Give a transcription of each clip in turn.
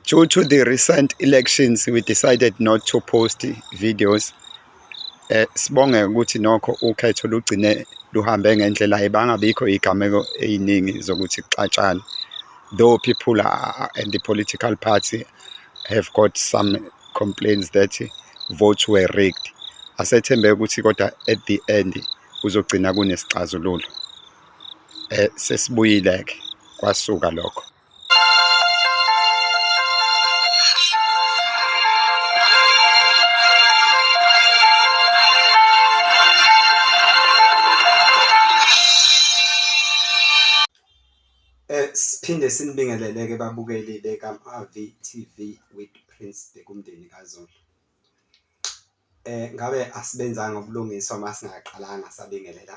Due to the recent elections, we decided not to post videos. Eh, sibonge ukuthi nokho ukhetho lugcine luhambe ngendlela ebangabikho igameko eziningi zokuthi kuxatshane. Though people are, and the political party have got some complaints that votes were rigged. Asethembe ukuthi kodwa at the end kuzogcina kunesixazululo. Eh, sesibuyile-ke kwasuka lokho. Siphinde sinibingelele-ke babukeli beka-AVTV with Prince Bhekumndeni kaZulu. Eh ngabe asibenzanga ubulungiswa uma singaqalanga sabingelela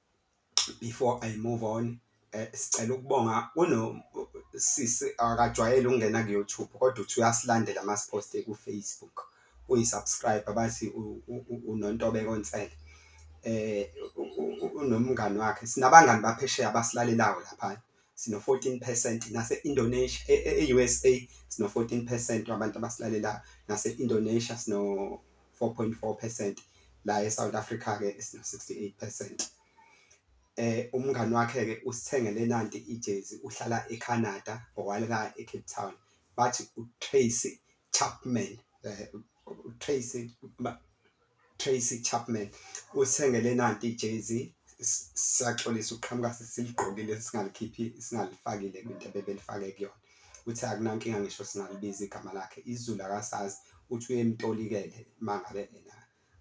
before i move on eh, sicela ukubonga kunosisi akajwayele ukungena ku-youtube kodwa uthi uyasilandela masiposte ku-facebook uyisubscribe abathi unontobeko nsele eh unomngani wakhe sinabangani baphesheya abasilalelayo lapha sino-14 percent nase-indonesia e-usa e-, e-, sino-14 percent wabantu abasilalelayo nase-indonesia sino 4.4 percent la eSouth Africa ke sina 68 percent eh umngani wakhe ke usithengele nanti ijezi uhlala eCanada owalika eCape Town bathi uTracy Chapman eh uTracy Tracy Chapman usithengele nanti ijezi siyaxolisa uqhamuka siligqokile singalikhiphi singalifakile into ebebelifake kuyona Uthe akunankinga ngisho singalibiza igama lakhe izulu akasazi uthi uyemtolikele mangabe ena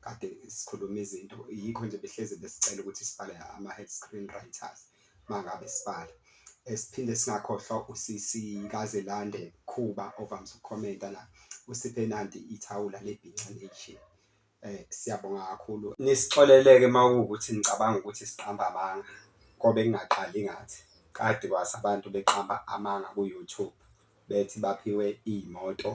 kade sikhuluma izinto yikho nje behlezi besicela ukuthi sibhale ama-head screen writers mangabe sibhala esiphinde singakhohlwa usisi kazelande khuba ovamise ukukhomenta la usiphe nanti ithawula lebhinca nation Eh siyabonga kakhulu nisixoleleke mawukuthi nicabanga ukuthi siqamba amanga ngoba engingaqali ngathi kade kwase abantu beqamba amanga ku YouTube bethi baphiwe iy'moto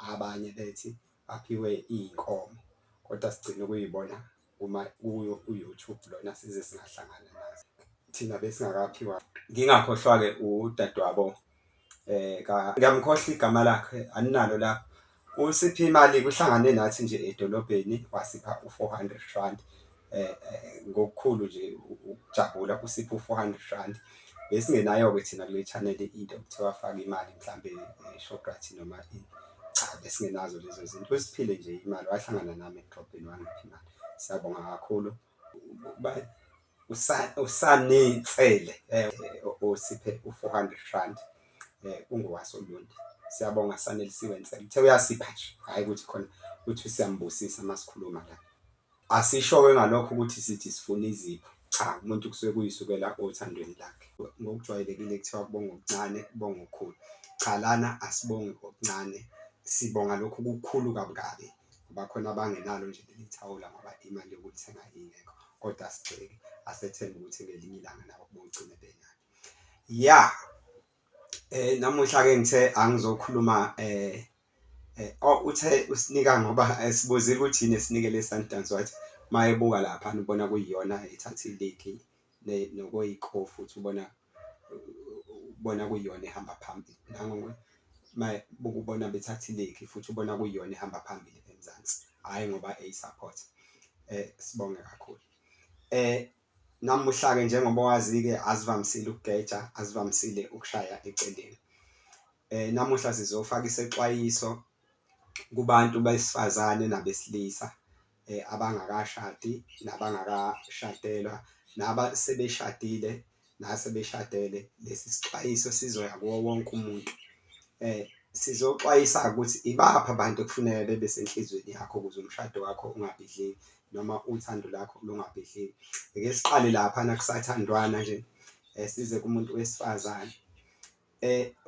abanye bethi baphiwe iy'nkomo kodwa sigcine ukuyibona uma kuyo u-YouTube lona size singahlangana nazo thina besingakaphiwa. Ngingakhohlwa-ke udadewabo eh ngiyamkhohla igama lakhe aninalo lapho usiphe imali kuhlangane nathi nje edolobheni wasipha u400 rand eh, eh ngokukhulu nje ukujabula usipha u400 rand besingenayo ke thina kule channel into kuthiwa faka imali mhlambe eh, Shoprite noma ini cha besingenazo lezo zinto usiphile nje imali wahlangana nami edolobheni wangipha imali siyabonga kakhulu bye usanitsele eh, osiphe u-400 rand um ungowaso lundi siyabonga sanelisiwe nsele uthe uyasipha nje hhayi ukuthi khona ukuthi siyambusisa uma sikhuluma la asisho-ke ngalokho ukuthi sithi sifuna izipho cha umuntu kusuke kuyisukela othandweni lakhe ngokujwayelekile kuthiwa kubonga okuncane kubonga okukhulu cha lana asibongi okuncane sibonga lokhu kukhulu kabukabi bakhona abangenalo nje leli thawula ngoba imali yokulithenga ingekho kodwa sigxeke asethembe ukuthi ngelinye ilanga nabo bogcine benalo ya eh namuhla ke ngithe angizokhuluma eh eh oh, uthe usinika ngoba esibuzile ukuthi yini esinikele Sundowns wathi mayebuka lapha ubona kuyiyona ethatha iligi nokoyikhofu uthi ubona ubona kuyiyona ehamba phambili bukubona bethatha iligi futhi ubona kuyiyona ehamba phambili eMzansi, hhayi ngoba eyi-support. Sibonge kakhulu. Namuhla-ke njengoba wazi-ke asivamisile ukugeja, asivamisile ukushaya eceleni. Namuhla sizofaka isexwayiso kubantu besifazane nabesilisa. abangakashadi nabangakashadelwa, naba sebeshadile nasebeshadele, lesi sixwayiso sizoya kuwo wonke umuntu. Sizoxwayisa-ke ukuthi ibaphi abantu ekufuneka bebe senhlizweni yakho ukuze umshado wakho ungabhidliki noma uthando lakho lungabhidliki. Ake siqale laphana kusathandwana nje size kumuntu wesifazane.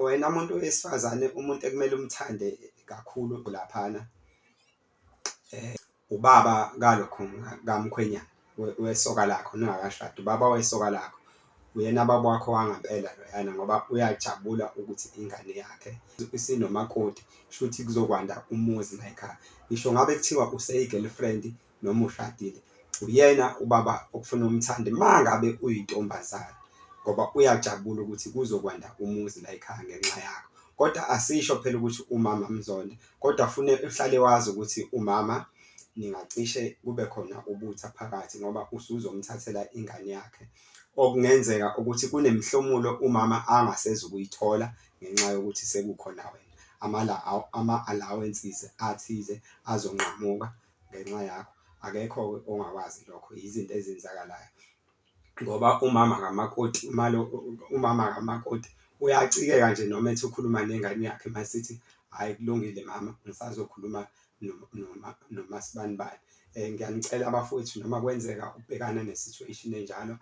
Wena muntu wesifazane umuntu ekumele umthande kakhulu laphana. eh, ubaba kalokho kamkhwenyana wesoka lakho ningakashadi ubaba wesoka lakho uyena baba wakho wangempela loyana ngoba uyajabula ukuthi ingane yakhe isinomakoti shuthi kuzokwanda umuzi layikhaya ngisho ngabe kuthiwa useyi-girlfriend noma ushadile uyena ubaba okufuna umthande ma ngabe uyintombazane ngoba uyajabula ukuthi kuzokwanda umuzi layikhaya ngenxa yakho kodwa asisho phela ukuthi umama mzonda Kodwa fune uhlale wazi ukuthi umama ningacishe kube khona ubutha phakathi ngoba usuzomthathela ingane yakhe. Okungenzeka ukuthi kunemihlomulo umama angasezi ukuyithola ngenxa yokuthi sekukhona wena. Ama-allowances athize azonqamuka ngenxa yakho. Akekho-ke ongakwazi lokho, yizinto ezenzakalayo. ngoba umama kamakoti umalo umama kamakoti uyacikeka nje noma ethi ukhuluma nengane yakhe masithi hhayi kulungile mama ngisazokhuluma nomasibanibani. Eh, ngiyanicela abafowethu noma kwenzeka ubhekana ne-situation enjalo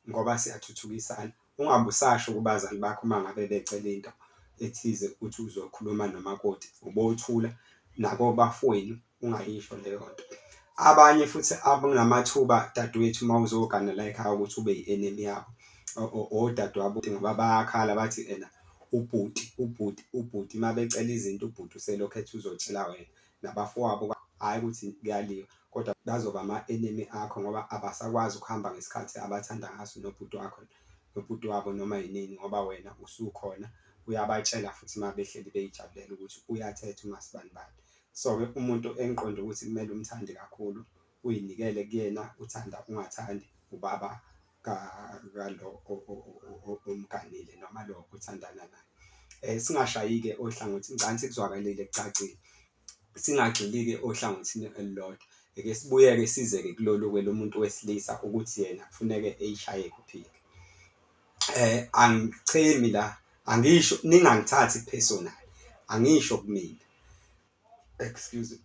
ngoba siyathuthukisana ungabe usasho kubazali bakho uma ngabe becela into ethize ukuthi uzokhuluma nomakoti ubothula nabo bafowenu ungayisho leyo nto abanye futhi abanamathuba dadewethu uma uzogana la ekhaya ukuthi ube yi-enemy yabo odadewabo ngoba bayakhala bathi ena ubhuti ubhuti ubhuti uma becela izinto ubhuti uselokhu ethi uzotshela wena nabafowabo hhayi ukuthi kuyaliwa kodwa bazoba ama-enemy akho ngoba abasakwazi ukuhamba ngesikhathi abathanda ngaso nobhuti wakho nobhuti wabo noma yinini ngoba wena usukhona uyabatshela futhi uma behleli beyijabulela ukuthi uyathetha umasibani bani So ke umuntu engiqonde ukuthi kumele umthande kakhulu uyinikele kuyena uthanda ungathandi ubaba ka kalo omganile noma lo othandana naye eh singashayike ohlangothi ngicela sikuzwakalile kucacile singagxilike ohlangothini elilodwa eke sibuyeke sizeke kulolu ke lomuntu wesilisa ukuthi yena kufuneke eyishaye kuphike eh angichemi la angisho ningangithathi personal angisho kumina excuse me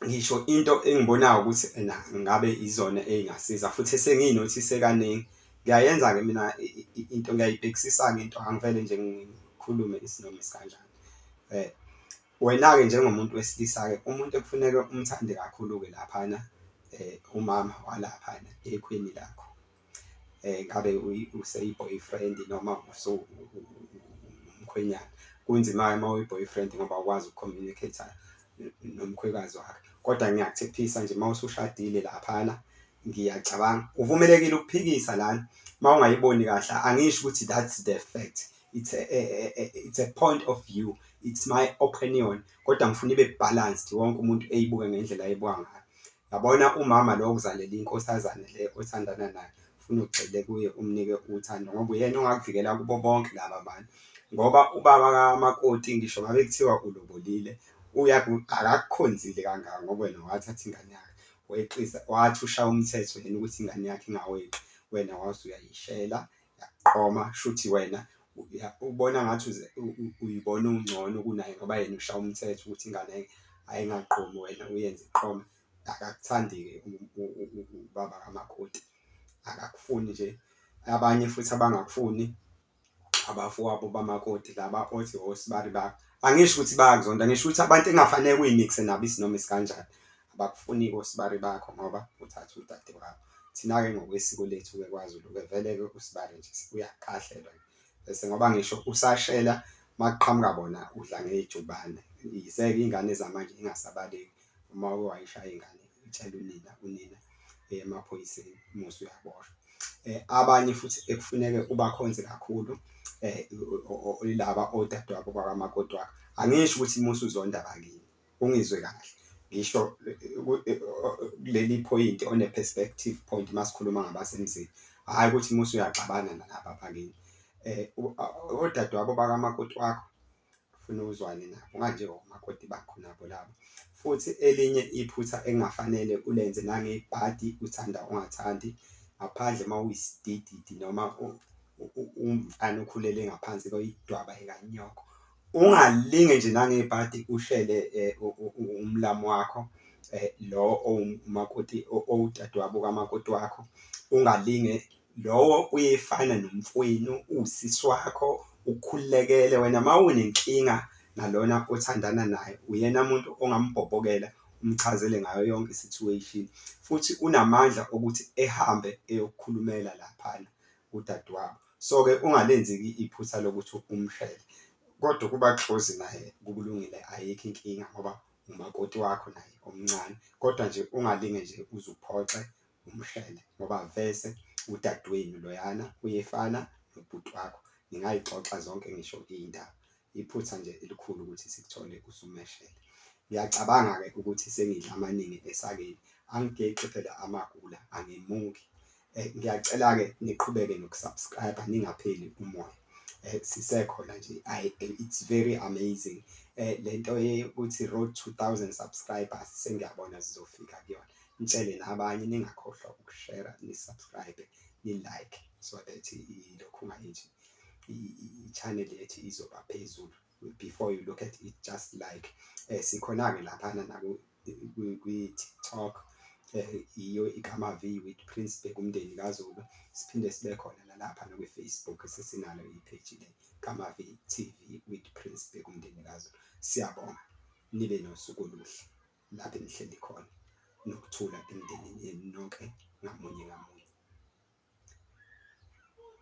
ngisho into engibonayo ukuthi ena ngabe izona ezingasiza futhi sengiyinothise kaningi ngiyayenza ke mina into ngiyayibhekisisa ke into angivele nje ngikhulume isinoma sikanjani eh wena ke njengomuntu wesilisa ke umuntu ekufuneka umthande kakhulu ke laphana eh umama walaphana ekhweni lakho eh ngabe useyi boyfriend noma uso umkhwenyana kunzima uma uyi boyfriend ngoba ukwazi ukucommunicate nomkhwekazi wakhe kodwa ngiyakuthephisa nje uma usushadile laphana ngiyacabanga uvumelekile ukuphikisa lana uma ungayiboni kahle angisho ukuthi that's the fact it's a, a, a, it's a point of view it's my opinion kodwa ngifuna ibe balanced wonke umuntu eyibuke ngendlela eyibuka ngayo Yabona umama lo okuzalela inkosazane le othandana nayo ufuna ugxile kuye umnike uthando ngoba uyena ongakuvikela kubo bonke laba bantu ngoba ubaba kamakoti ngisho ngabe kuthiwa ulobolile akakukhonzile kangaka ngoba wena wathatha ingane yakhe weqisa wathi ushaya umthetho yena ukuthi ingane yakhe ingaweqi wena wase uyayishela yaqoma shuthi wena ubona ngathi uyibona ungcono kunaye ngoba yena usha umthetho ukuthi ingane ayingaqomi wena uyenze iqome akakuthandi-ke ubaba kamakoti akakufuni nje abanye futhi abangakufuni abafowabo bamakoti laba othi osibari bakho angisho ukuthi bayakuzonda ngisho ukuthi abantu engafanele kuyimikise nabo isinoma isikanjani abakufuni kosibari bakho ngoba uthatha udade wakho thina-ke ngokwesiko lethu-ke kwazulu-ke vele-ke usibari nje uyakahlelwa bese ngoba ngisho usashela makuqhamuka bona udla ngejubane yize-ke iy'ngane zamanje ingasabaleki uma uke wayishaya ingane itshela unina unina eh, emaphoyiseni um musa uyaboshwa um abanye futhi ekufuneke ubakhonze kakhulu um laba odadewabo kwakamakoti wakho angisho ukuthi musa uzonda bakini ungizwe kahle ngisho kuleli point on a perspective point masikhuluma ngabasemzini hayi ukuthi musu uyaxabana nalaba bakini eh odadewabo bakamakoti wakho ufuna uzwane nabo kanje omakoti bakho nabo labo futhi elinye iphutha engafanele ulenze nangebhadi uthanda ungathandi ngaphandle uma uyisidididi noma umfana ukhulele ngaphansi kweyidwaba ekanyoko ungalinge nje nangebhadi uhlele eh, umlamu wakho eh, lo owumakoti owudadewabo kamakoti wakho ungalinge lowo uyefana nomfwenu usisi wakho ukhulekele wena uma unenkinga nalona othandana naye uyena muntu ongambhobhokela umchazele ngayo yonke situation futhi unamandla okuthi ehambe eyokukhulumela laphana udadewabo So ke ungalenzi ke iphutha lokuthi umshele kodwa ukuba close naye kubulungile ayikho inkinga ngoba umakoti wakho naye omncane kodwa nje ungalinge nje uzuphoxe umshele ngoba vese udadewenu loyana uyefana nobhuti wakho ningayixoxa zonke ngisho iy'ndaba Iphutha nje elikhulu ukuthi sikuthole usumeshele. Ngiyacabanga-ke ukuthi sengidla amaningi esakeni, angigexi phela amagula, angimuki. Eh, ngiyacela-ke niqhubeke nokusubscribe ningapheli umoya. Eh, sisekhona nje I, eh, it's very amazing eh, le nto yokuthi road 2000 subscribers sengiyabona zizofika kuyona ngitshele nabanye ningakhohlwa ukushera nisubscribe nilike so that ilokhu ungayenji i-channel ethi izoba phezulu before you look at it just like eh, sikhona-ke laphana kwi-tiktok eh, iyo ikama-v with prince bheka umndeni kazulu siphinde sibe khona nalapha nakwi-facebook sesinalo ipheji le kama-v tv with prince bheka umndeni kazulu siyabonga nibe nosuku oluhle lapho enihleli khona nokuthula emndenini yenu nonke ngamunye ngamunye